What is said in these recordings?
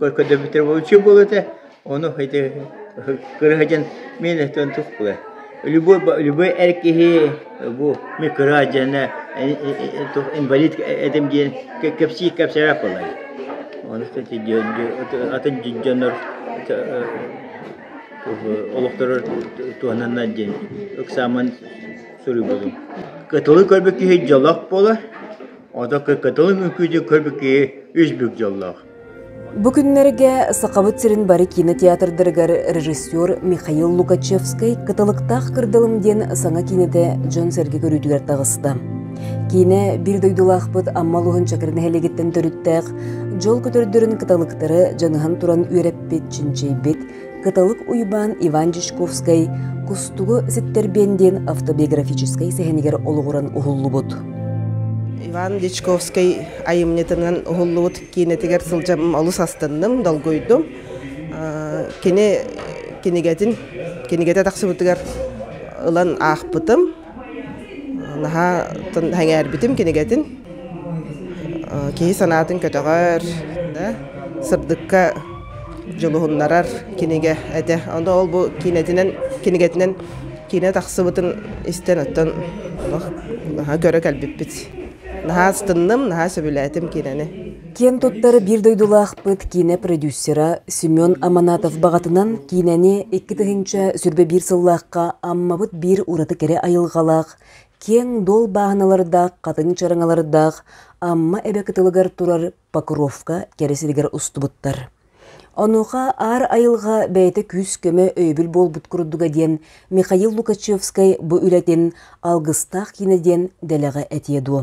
көрдөбүттэр вообще был это ону это кырыһадьан мен этэн тухпуга любой любой эр киһи бу микра дьэна инвалид этим диэн кэпсии кэпсэбэ болай ону атын дьоннор олохторор туһананнар диэн ыксааман суруйбутум кытылы көрбүк киһи дьолох болар ото кытылы мүкүүдү көрбүк киһи үс бүк дьоллоох Бу күннэргэ Сахабыт сирин бары кинотеатрдарыгар режиссер Михаил Лукачевскай «Кыталыктаах кырдалым» диэн саҥа киинэтэ дьон-сэргэ көрүүтүгэр таҕыста. Киинэ биир дойдулаахпыт Амма улууһун Чакыр нэһилиэгиттэн төрүттээх дьол көтөрдөрүн кыталыктары дьаныһан туран үөрэппит, чинчийбит, Кытылык Уйбаан Иван Дьячковскай Кустугу ситтэрбиэн диэн автобиографическай сэһэнигэр олоҕуран уһуллубут. Иван Дьячковскай айымньытынан уһуллубут киинэтигэр сылдьам олус астынным, долгуйдум. Кини кинигэтин кинигэтэ тахсыбытыгар ылан аахпытым. Наһаа сэҥээрбитим кинигэтин. Киһи санаатын көтөҕөр, сырдыкка дьулуһуннарар кинигэ этэ. Ону ол-бу киинэтинэн, кинигэтинэн киинэ тахсыбытын истэн оттон наһаа көрө кэлбиппит. Наһаа астынным, наһаа сөбүлээтим киинэни. Киэн туттар биир дойдулаахпыт киинэ продюсера Семен Аманатов баҕатынан киинэни икки тыһыынча сүүрбэ биир сыллаахха Аммабыт биир ураты кэрэ айылҕалаах, киэҥ дуол бааһыналардаах, хатыҥ чараҥалардаах Амма эбэ кытылыгар турар Покровка кэрэ сиригэр устубуттар. Онуоха аар айылҕа бэйэтэ күүс-көмө өйөбүл буолбут курдуга диэн Михаил Лукачевскай бу үлэтин алгыстаах киинэ диэн дэлэҕэ этиэ дуо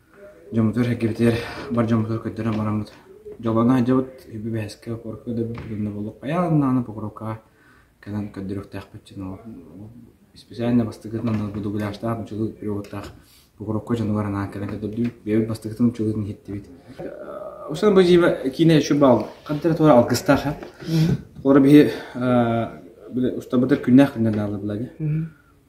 дьоммутугар эргибитигэр бар дьоммутугар көрдөрөн бараммыт дьоллоно сылдьабыт үбү бэһискэ покоровкаҕа да эбэбит уонна буолуох хайаан даҕаны покоровкаҕа кэлэн көрдөрүөхтээхпит дьон ол исписээннэ бастакытынан будугуляштаах мучулуу переводтаах покоровка дьонугар анаан кэлэн көрдөрдүбүт бэйэбит бастакытын мучулуутун иһиттибит Устан бу дьиибэ киинэ еще баал хантара туора алгыстаах а толора биһи устабытыр күннээх күннэ даалыбылагы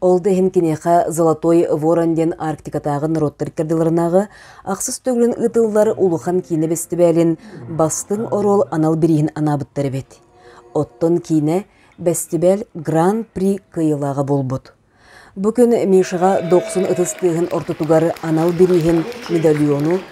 Ол да иһин киниэхэ «Золотой ворон» диэн Арктикатааҕы норуоттар иккардыларынааҕы ахсыс төгүлүн ыытыллар улахан киинэ бэстибээлин бастыҥ оруол анал бирииһин анаабыттар эбит. Оттон киинэ бэстибээл Гран-при кыайыылааҕа буолбут. Бу күн Мишаҕа 90 ытыс тыаһын ортотугар анал бирииһин, медальону,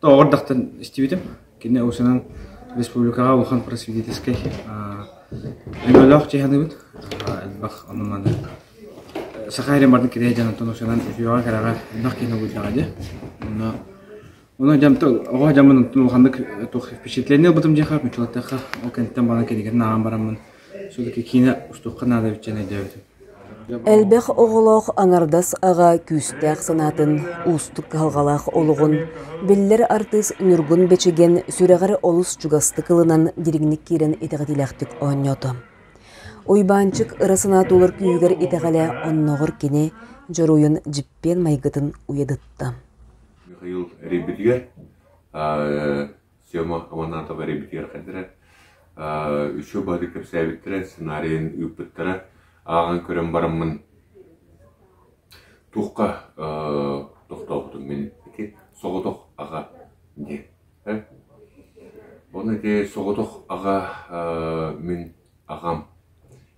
Оҕо эрдэхтэн истибитим. Кини усунан республикаҕа улахан просветительскай өҥөлөөх чыһаныыбыт. Элбэх оннунаны саха эрин бардын киреэ дьанантан усунан эфиоҕа кэрэҕэ элбэх киһи булдаҕа дьэ. Онно Оны дьам оҕо дьамын улаханнык туох впечатление ылбытым дьиэхэ мучулаттахха ол кэнниттэн бана кинигэтин ааҕан бараммын судоки киинэ устуохха наада биччэн өйдөөбүтүм Элбэх оҕолоох аҥардас аҕа күүстээх санаатын уустук кыһалҕалаах олоҕун биллэр артыыс Ньургун Бэчэген сүрэҕэр олус чугастык ылынан дириҥник киирэн итэҕэтиилээхтик оонньоото. Уйбаанчык ыра санаа туолар күүһүгэр итэҕэлэ оннооҕор кини дьоруойун дьиппиэн майгытын уйадытта Сема Аманатова репетиирхэтэрэ, үчүгэй бары кэпсээбиттэрэ, сценарийын ыыппыттара. Ааҕан көрөн бараммын туохха тохтообутум мин ити соҕотох аҕа диэн. Ону ити соҕотох аҕа мин аҕам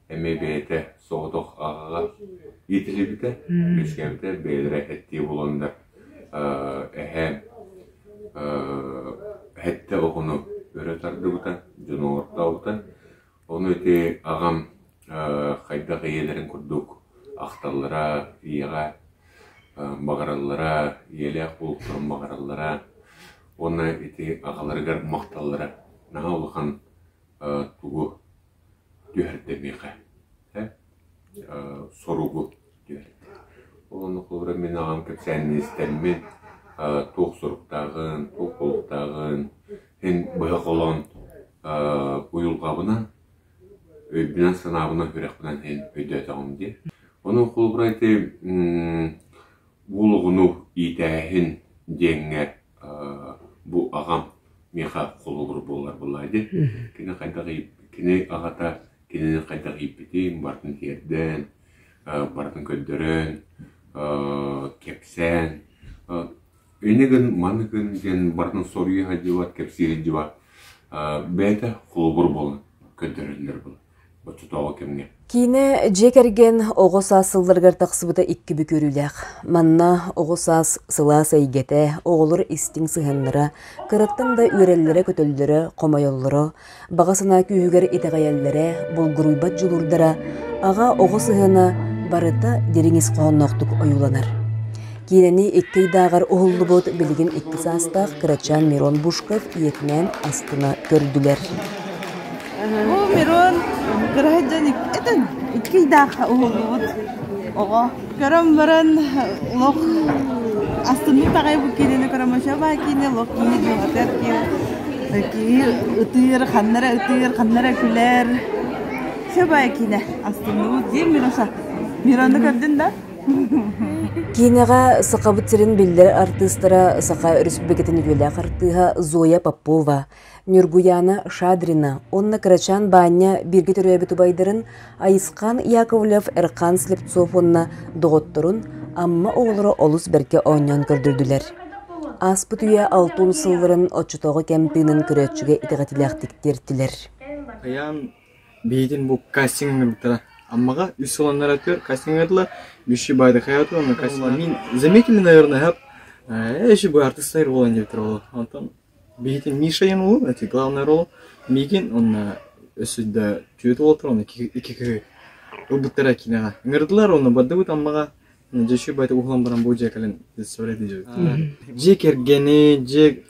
эмиэ бэйэтэ соҕотох аҕаҕа иитиллибитэ, үөскээбитэ, бэйэлэрэ эттии буолан да эһээ эһэтэ оҕону өрө тардыбыта, дьону оҥортообута. Ону ити аҕам хайдах ийэлэрин курдук ахталлара, ийэҕэ баҕараллара, ийэлээх буолуохтарын баҕараллара уонна ити аҕаларыгар махталлара наһаа улахан тугу түһэрдэ миэхэ ээ соругу түһэрдэ ол онно холобура мин аҕам кэпсээнин истэммин туох соруктааҕын туох буолуктааҕын мин быһа холоон уйулҕабынан өйбүнэн-санаабынан үрэхпинэн иһин өйдөөтөҕүм дии ону холобура ити уолугуну иитээһин диэҥҥэ бу аҕам миэхэ холобур буоларбын аайы кини хайдах кини аҕата кинини хайдах ииппитин барытын тиэрдээн барытын көрдөрөн кэпсээн ини гын маны гын диэн барытын соруйа сылдьыбат кэпсии сылдьыбат бэйэтэ холобур буолан көрдөрөллөр буолан Оччотооҕу кэмҥэ Киинэ дьиэ кэргэн оҕо саас сылларыгар тахсыбыта икки бүк үөрүүлээх. Манна оҕо саас сылаас эйгэтэ, оҕолор истиҥ сыһыаннара, кыраттан да үөрэллэрэ-көтөллөрө, хомойоллоро, баҕа санаа күүһүгэр итэҕэйэллэрэ, булгуруйбат дьулуурдара, аҕа оҕо сыһыана барыта дириҥ ис хоһоонноохтук ойууланар. Киинэни икки ыйдааҕар уһуллубут билигин икки саастаах кырачаан Мирон Бушков ийэтинээн астына көрдүлэр. Бу Мирон кыраһай дьон этэн икки ыйдаахха уһуллубут оҕо. Көрөн баран лох астыннык таҕай бу киинэни крамачаба киинэ лох киинэ диэн атар киинэ киһи ытыыр ханнара ытыыр ханнара күлэр. Сөбө киинэ астынныбыт диэн Мироша. Мироны көрдün да? Киинэҕэ Сахабыт сирин биллэр артыыстара Саха Өрөспүүбүлүкэтин үтүөлээх артыыһа Зоя Попова, Ньургуйаана Шадрина уонна Кырачаан Баанньа бииргэ төрөөбүт убайдарын Айысхаан Яковлев-Эрхан Слепцов уонна доҕотторун Амма оҕолоро олус бэркэ оонньоон көрдөрдүлэр. Ааспыт үйэ алтын сылларын оччотооҕу кэм тыынын көрөөччүгэ итэҕэтиилээхтик тиэртилэр. Хайаан Биһиитин бу кастиҥҥа бүттэ. Аммаҕа үс уоланнара түөрт кастиҥҥа ыытылар. Биши Байдахайату уонна кастиҥҥа. Заметили, наверное, э, еще бы артистар роль не выиграла. Онтон биһиитин Мишайын уолун, эти главный рол миигин уонна өссүдэ түөрт уол туран икки ылбыттара киниэхэ. Ыҥырдылар уонна бардыбыт Аммаҕа. Надеюсь, этим уһулан бу дьиэ кэлин представляйди дии. Дьиэ кэргэни, дьиэ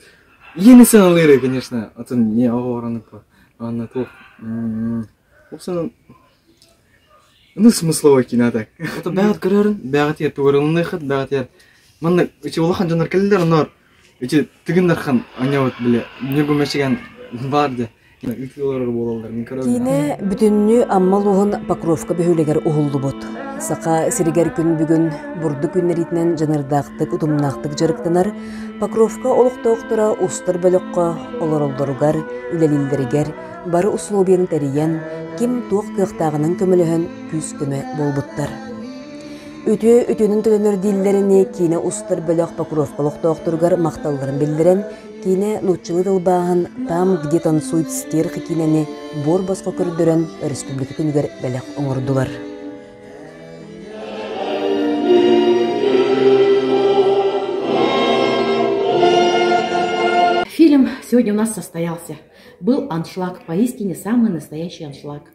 иэни саналыыры, конечно, атын не оҕораныкпа. Анна туох ол санан аны смысловой кино так. Это бэҕэт көрөрүн, бэҕэтиэр тугырылыныхыт, бэҕэтиэр манна үчи улахан жандар кэллер, анар Ити Тыгын Дархан аньабыт били Ньургу Мэчигэн баар да ыытыы олорор буолалларын көрөбүн. Киинэ бүтүннүү Амма улууһун Покровка бөһүөлэгэр уһуллубут. Саха сиригэр күн бүгүн бурдук үүннэриитинэн дьаныардаахтык, утумнаахтык дьарыктанар Покровка олохтоохторо устар бөлөххө олороллоругар, үлэлииллэригэр бары усулуобуйаны тэрийэн, ким туох кыахтааҕынан көмөлөһөн күүс-көмө буолбуттар. Үтүө үтүөнүн төлөнөр дииллэрини киинэ устар бөлөх Покровка олохтоохторугар махталларын биллэрэн, киинэ нууччалыы тылбааһын «Там, где танцует стерх» киинэни буор босхо көрдөрөн өрөспүүбүлүкэ күнүгэр бэлэх оҥордулар. Фильм сегодня у нас состоялся. Был аншлаг, поистине самый настоящий аншлаг.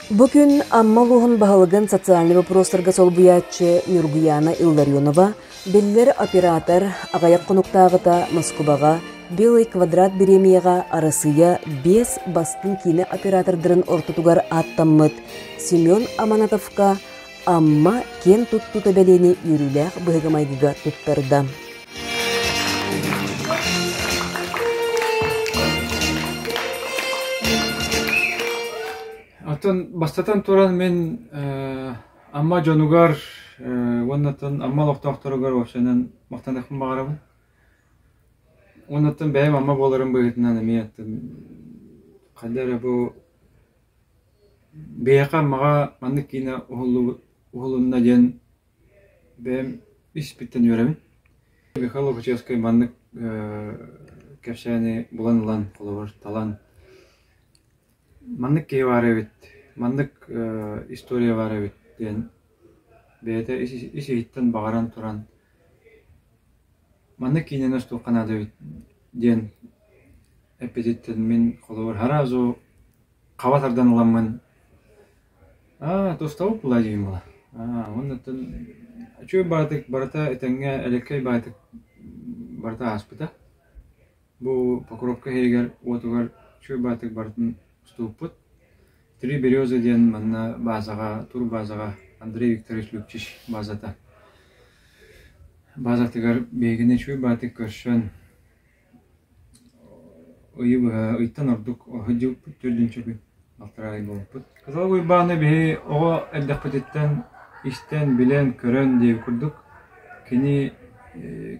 Бу күн Амма улууһун баһылыгын социальнай бопуруостарга солбуйааччы Ньургуйаана Илларионова биллэр оператор, аҕыйах хонуктааҕыта Москубаҕа Белый квадрат бириэмийэҕэ Арассыыйа биэс бастыҥ киинэ оператордарын ортотугар ааттаммыт Семен Аманатовка Амма киэн туттуута бэлиэни үөрүүлээх быһыгы майгыга туттарда. Атын бастатан туран мин Амма дьонугар уоннаттан Амма олохтоохторугар вообщенан махтанахпын баҕарабын. Уоннаттан бэйэм Амма буоларым быһыытынан эмиэ ханна эрэ бу Биһиэхэ Аммаҕа маннык киинэ уһулунна диэн бэйэм испиттэн үөрэбин. Михаил Лохачевскай маннык кэпсээни булан ылан, холобур, талан маннык киһи баар эбит, маннык история баар эбит диэн бэйэтэ ис-иһиттэн баҕаран туран маннык киинэни остуолга наада эбит диэн Эппититтэн мин холобур сразу хаба тардан ыламмын аа тустабыт булай диибин буолар аа оннуттан үчүгэй баҕатык барыта этэҥҥэ элэккэй баҕатык барыта ааспыта бу покровка иһигэр уотугар үчүгэй баҕатык барытын уступпут три березы диэн манна баазаҕа турбаазаҕа андрей викторович лүкчич баазата баазатыгар биһигини үчүгэй баҕатык көрсөн Ыйы быһа ыйтан ордук сылдьыбыппыт төрдүн-чөкүн балтараа ый буолбуппут. Кызыл Уйбааны биһи оҕо эрдэхпититтэн истэн, билэн, көрөн диэби курдук кини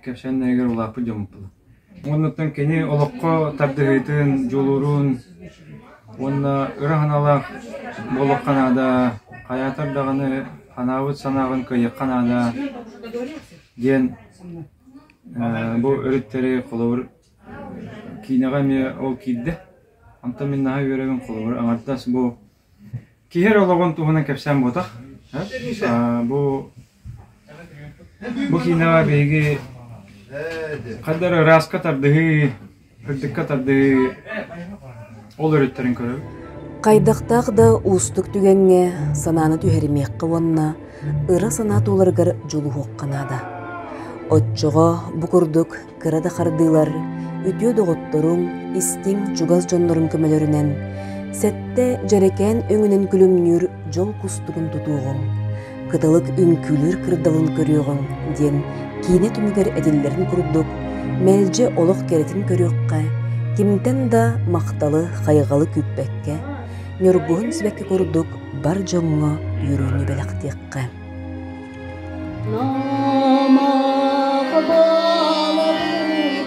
кэпсээннэригэр улааппыт дьоммуппун. Оннуттан кини олоххо тардыһыытын, дьулуурун уонна ыра санаалаах буолуохха наада, хайаатар даҕаны санаабыт санааҕын кыайыахха наада диэн Бу өрүттэри холобур киинэҕэ эмиэ ол киирдэ. Онтон мин наһаа үөрэбин холобур аҥардас бу киһи эрэ олоҕун туһунан кэпсээн буотах. Бу бу киинэҕэ биһиги хайдах ырааска тардыһыы Кырдыкка тардыы ол өрүттэрин көрөбүт. Хайдахтаах да уустук түгэҥҥэ санааны түһэримиэххэ уонна ыра санаа туоларыгар дьулуһуохха наада. Оччоҕо бу курдук кыра да хардыылар үтүө доҕотторуҥ, истиҥ чугас дьонноруҥ көмөлөрүнэн сэттэ дьэрэкээн өҥүнэн күлүмнүүр дьол кустугун тутуоҕуҥ. кыталык үҥкүүлүүр кырдалын көрүөҕүҥ диэн киинэ түмүгэр этиллэрин курдук мэлдьи олох кэрэтин көрүөххэ кимтэн да махталы хайҕалы күүппэккэ ньургуһун сибэкки курдук бар дьоҥҥо үөрүүнү бэлэхтиэххэ